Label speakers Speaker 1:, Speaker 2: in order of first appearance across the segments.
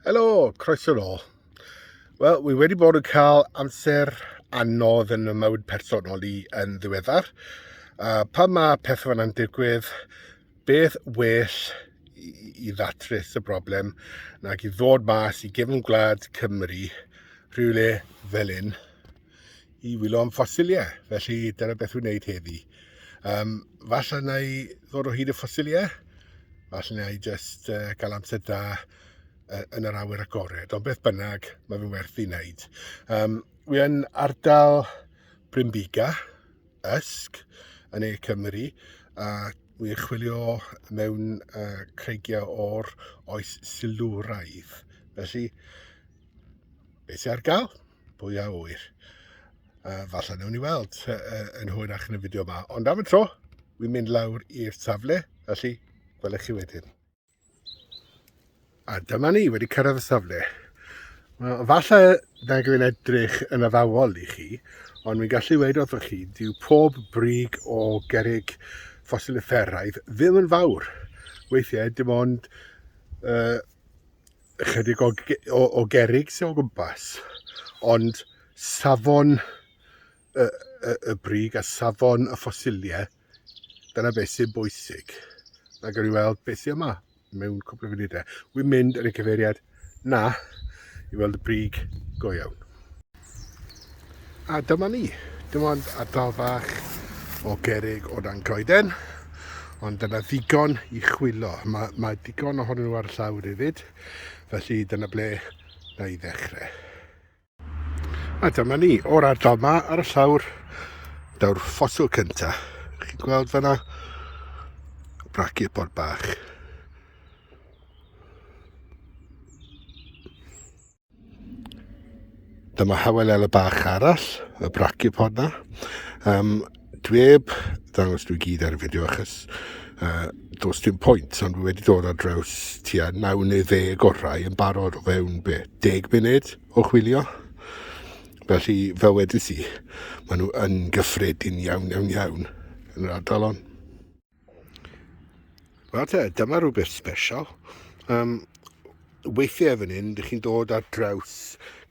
Speaker 1: Helo, croeso nôl. Wel, wi wedi bod yn cael amser anodd yn y mywyd personol i yn ddiweddar. Uh, pan mae pethau fan yn digwydd, Beth well i ddatrys y broblem nag i ddod mas i gefn gwlad Cymru rhywle fel un i wylo am ffosiliau. Felly dyna beth wy'n wneud heddi. Um, falle na i ddod o hyd y ffosiliau, falle na i just uh, cael amser da uh, yn yr awyr agored, ond beth bynnag, mae fe'n werth i wneud. Um, wy'n ardal Brynbiga, Usk yn Ne Cymru a wi'n chwilio mewn uh, creigiau o'r oes silwraidd. Felly, beth sy'n ar gael? Pwy a wyr? Uh, falle newn ni weld uh, uh, yn hwyrach yn y fideo yma. Ond am y tro, wi'n mynd lawr i'r safle, felly gwelech chi wedyn. A dyma ni, wedi cyrraedd y safle. Wel, falle na glyn edrych yn addawol i chi, ond mi'n gallu dweud wrthoch chi, dyw pob brig o gerig ffosilifferaidd ddim yn fawr. Weithiau, dim ond uh, ychydig o, o, o gerig sy'n o gwmpas, ond safon y, y, y brig a safon y ffosiliau Dyna beth sy'n bwysig. Na gawn ni weld beth sy'n yma mewn cwpl o funudau. Wy'n mynd yn y cyfeiriad na i weld y brig go iawn. A dyma ni. Dim ond ardal fach o gerig o dan goeden, ond dyna ddigon i chwilo. Mae, mae digon ohonyn nhw ar y llawr hefyd, felly dyna ble na i ddechrau. A dyma ni, o'r ardal ma ar y llawr, daw'r ffoto cynta. Chi'n gweld fanna? Braci y pod bach. Dyma hawelele bach arall, y braci pod na. Um, Dwi heb ddangos nhw i gyd ar y fideo achos uh, dos dim pwynt, ond dwi wedi dod ar draws tua 9 neu 10 orau yn barod o fewn be, 10 munud o chwilio. Felly, fel wedys i, maen nhw yn gyffredin iawn, iawn, iawn yn yr ardal hon. Wel te, dyma rhywbeth special. Um, weithiau fan hyn, dych chi'n dod ar draws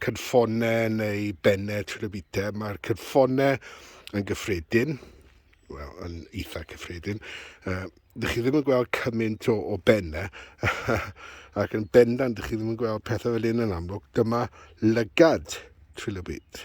Speaker 1: cynffonau neu bennau trwy'r bita. Mae'r cynffonau yn gyffredin, wel, yn eitha cyffredin. Uh, dych chi ddim yn gweld cymaint o, o bennau, ac yn bendant dych chi ddim yn gweld pethau fel un yn amlwg. Dyma lygad trwy'r byd.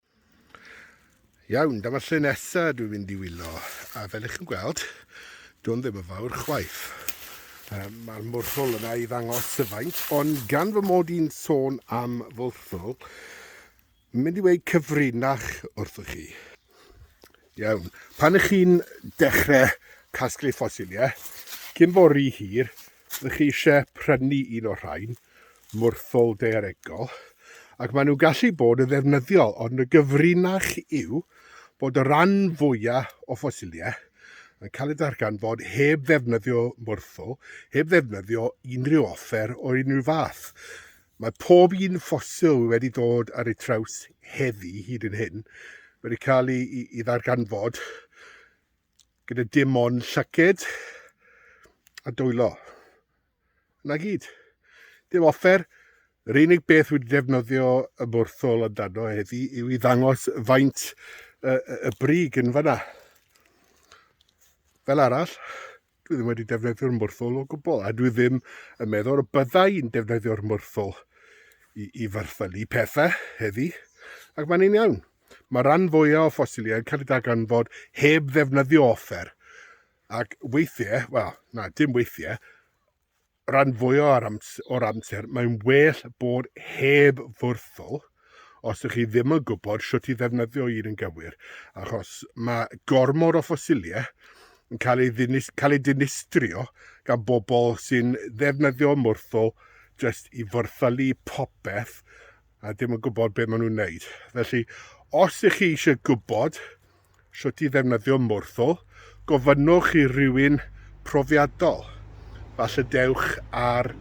Speaker 1: Iawn, dyma lle nesa dwi'n mynd i wylo, a fel ych chi'n gweld, dwi'n ddim yn fawr chwaith. Um, Mae'r mwrthol yna i ddangos y faint, ond gan fy mod i'n sôn am fwrthol, mynd i weid cyfrinach wrthych chi. Iawn, pan ych chi'n dechrau casglu ffosiliau, cyn fori hir, Ydych chi eisiau prynu un o'r rhain, mwrthol daearegol, ac maen nhw'n gallu bod yn ddefnyddiol, ond y gyfrinach yw bod y rhan fwyaf o ffosiliau yn cael eu darganfod heb ddefnyddio mwrthol, heb ddefnyddio unrhyw offer o unrhyw fath. Mae pob un ffosil wedi dod ar ei traws heddi hyd yn hyn wedi cael ei, ei, ei ddarganfod gyda dim ond llyced a dwylo. Na gyd. Dim offer. Yr unig beth wedi defnyddio y bwrthol amdano heddi yw i ddangos faint y, y brig yn fanna. Fel arall, dwi ddim wedi defnyddio'r mwrthol o gwbl, a dwi ddim yn meddwl y byddai'n defnyddio'r mwrthol i, i farthylu pethau heddi, ac mae'n un iawn. Mae'r rhan fwyaf o ffosiliau yn cael eu darganfod heb ddefnyddio offer, ac weithiau, wel, na, dim weithiau, rhan fwyaf o'r amser, or amser mae'n well bod heb fwrthol os ydych chi ddim yn gwybod sut i ddefnyddio un yn gywir, achos mae gormod o ffosiliau yn cael ei, ddinis, cael ei dinistrio gan bobl sy'n ddefnyddio mwrthol jyst i fyrthylu popeth a ddim yn gwybod beth maen nhw'n wneud. Felly, os ych chi eisiau gwybod sut i ddefnyddio mwrthwl, gofynnwch i rywun profiadol. Falle dewch ar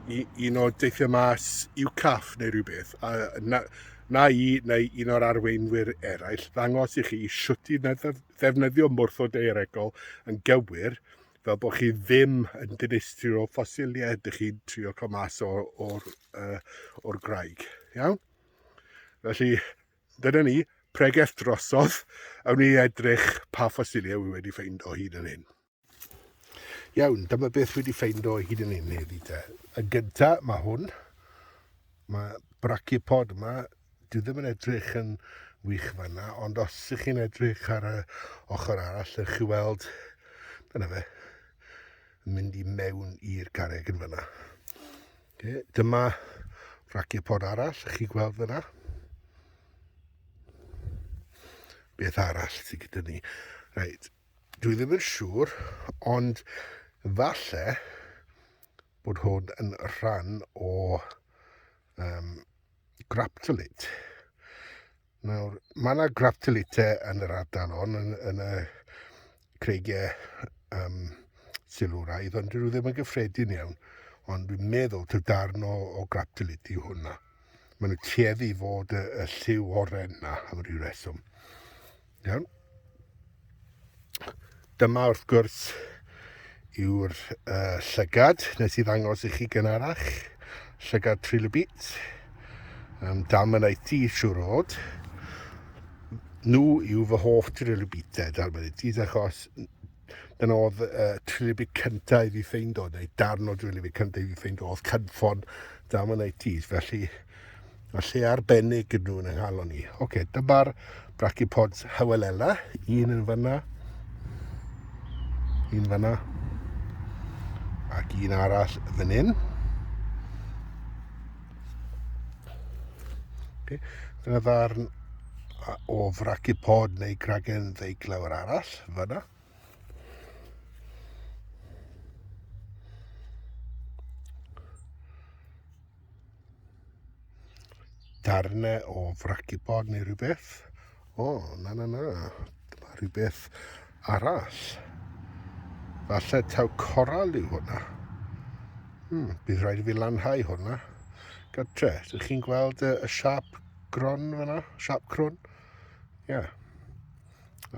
Speaker 1: un o deithiau mas UCAF neu rhywbeth, a na, na i neu un o'r arweinwyr eraill ddangos i chi sut i ddefnyddio mwrthol deiregol yn gywir, fel bod chi ddim yn dinistrio ffosiliau ydych chi'n trio cael mas o'r uh, o'r graig. Iawn? Felly, dyna ni, pregeth drosodd, awn ni edrych pa ffosiliau wy wedi ffeind o hyd yn hyn. Iawn, dyma beth wedi ffeind o hyd yn hyn heddi te. Y gynta, mae hwn, mae brachipod yma, dwi ddim yn edrych yn wych fanna, ond os ych chi'n edrych ar y ochr arall, ych chi weld, dyna fe, yn mynd i mewn i'r carreg yn fanna. Okay, dyma raciau pod arall, chi gweld fyna. Beth arall sydd gyda ni? Reit, dwi ddim yn siŵr, ond falle bod hwn yn rhan o um, graptolate. Nawr, mae yna graptolite yn yr ardal hon, yn, yn y creigiau um, silwraidd, ond dwi ddim yn gyffredin iawn. Ond dwi'n meddwl ty darn o, o graptolite yw hwnna. Mae nhw tueddu i fod y, y lliw oren na, am ryw reswm. Iawn? Dyma wrth gwrs yw'r uh, llygad nes i ddangos i chi gynharach, llygad trilobit, um, dalmanaiti siwr o fod. Nhw yw fy hoff trilobitau dalmanaitis achos Dyna oedd uh, trilifi cyntaf i fi ffeind oedd, neu darn o trilifi cyntaf i fi ffeind oedd cynffon dam yn ITs, felly y lle arbennig yn nhw'n ynghalon ni. Oce, okay, dyma'r brachypods Hywelella, un yn fanna, un fanna, ac un arall fan hyn. Okay. Dyna ddarn o fracu pod neu gragen ddeiglawr arall, fanna. Darnau o fracu pod neu rhywbeth. O, na, na, na. Dyma rhywbeth arall. Falle taw coral yw hwnna. Hmm, bydd rhaid i fi lanhau hwnna. Gytre, ydych chi'n gweld y, y siap gron fyna? Siap crwn? Ie. Yeah.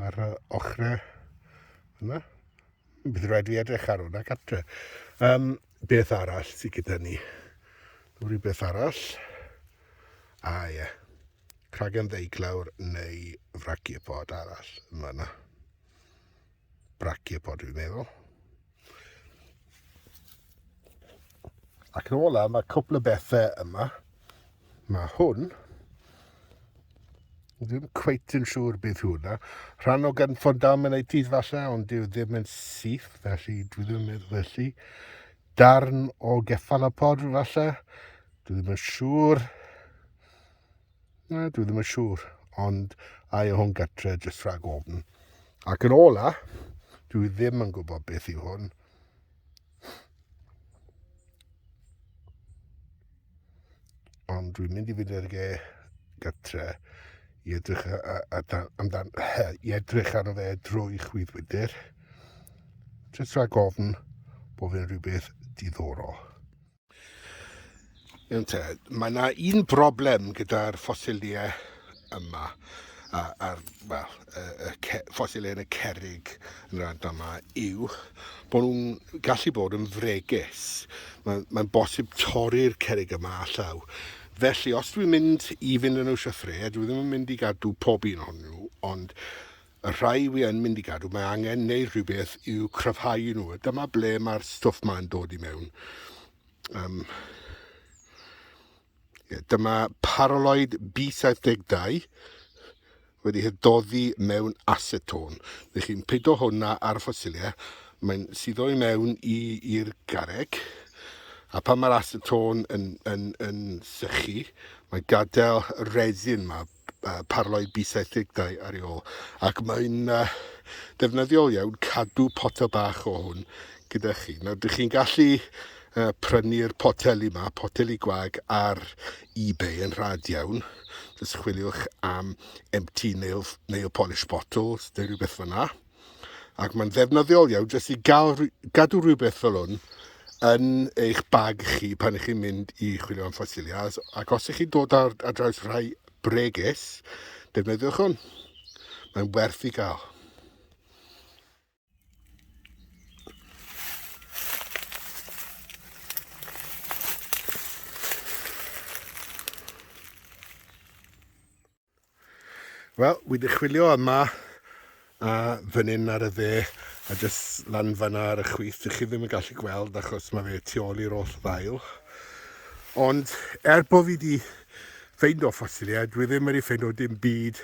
Speaker 1: Ar uh, ochrau yna. Hmm, bydd rhaid fi edrych ar hwnna gytre. Um, beth arall sydd gyda ni? Rhywbeth arall? A ah, ie. Yeah. cragen ddeiglawr neu fraciopod arall yn fanna. Braciopod dwi'n meddwl. Ac yn ola, mae cwpl o bethau yma. Mae hwn, ddim cweit yn siŵr beth yw hwnna. Rhan o gan ffondameneitydd falle, ond dyw ddim yn syth, felly dwi ddim yn meddwl felly. Darn o geffalopod falle, dwi ddim yn siŵr. Na, dwi ddim yn siŵr, ond a yw hwn gytre jyst rhag ofn. Ac yn ola, dwi ddim yn gwybod beth yw hwn. Ond dwi'n mynd i fynd i'r ge gytre i edrych amdan, i edrych arno fe drwy chwyddwydr. Jyst rhag ofn bod fe'n rhywbeth diddorol. Iawn te, mae yna un broblem gyda'r ffosiliau yma, a'r well, y, y ffosiliau yn y cerig yn yr adnod yma, yw bod nhw'n gallu bod yn fregus. Mae'n mae bosib torri'r cerig yma allaw. Felly, os dwi'n mynd i fynd yn nhw siafre, dwi ddim yn mynd i gadw pob un o'n nhw, ond y rhai wi yn mynd i gadw mae angen neud rhywbeth i'w cryfhau nhw a dyma ble mae'r stwff ma'n dod i mewn um, yeah, dyma paraloid B72 wedi hydoddi mewn acetone felly chi'n pido hwnna ar y ffosilia mae'n suddo i mewn i'r gareg a pan mae'r acetone yn, yn, yn sychu mae gadael resin mae parlau bysethigdau ar ei ôl ac mae'n ddefnyddiol iawn cadw potel bach o hwn gyda chi. Nawr, dych chi'n gallu prynu'r poteli yma, poteli gwag ar eBay yn rhad iawn. Just chwiliwch am empty nail, nail polish bottles neu rhywbeth fyna. Ac mae'n ddefnyddiol iawn jyst i gael, gadw rhywbeth fel hwn yn eich bag chi pan ych chi'n mynd i chwilio am ffosiliau. Ac os ych chi'n dod ar, ar draws rhai bregus, defnyddiwch hwn. Mae'n werth i gael. Wel, wi wedi chwilio yma a fan hyn ar y dde a jyst lan fanna ar y chwith. Dych chi ddim yn gallu gweld achos mae fe tu ôl i'r oll ddail. Ond er bod fi wedi ffeind o ffosiliau, dwi ddim wedi ffeind o dim byd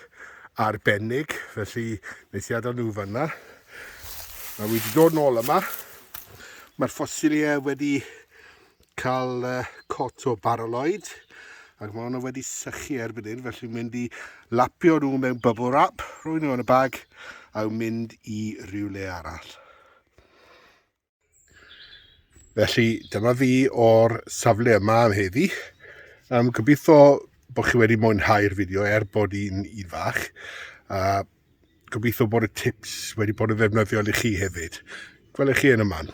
Speaker 1: arbennig, felly nes i adael nhw fanna. A wi wedi dod nôl yma. Mae'r ffosiliau wedi cael cot o baraloid ac mae hwnna wedi sychu erbyn hyn felly mynd i lapio nhw mewn bubble wrap, rhoi nhw yn y bag a mynd i rywle arall. Felly dyma fi o'r safle yma am heddi. Um, gobeithio bod chi wedi mwynhau'r fideo er bod hi'n un fach. Uh, gobeithio bod y tips wedi bod yn ddefnyddiol i chi hefyd. Gwelwch chi yn y man.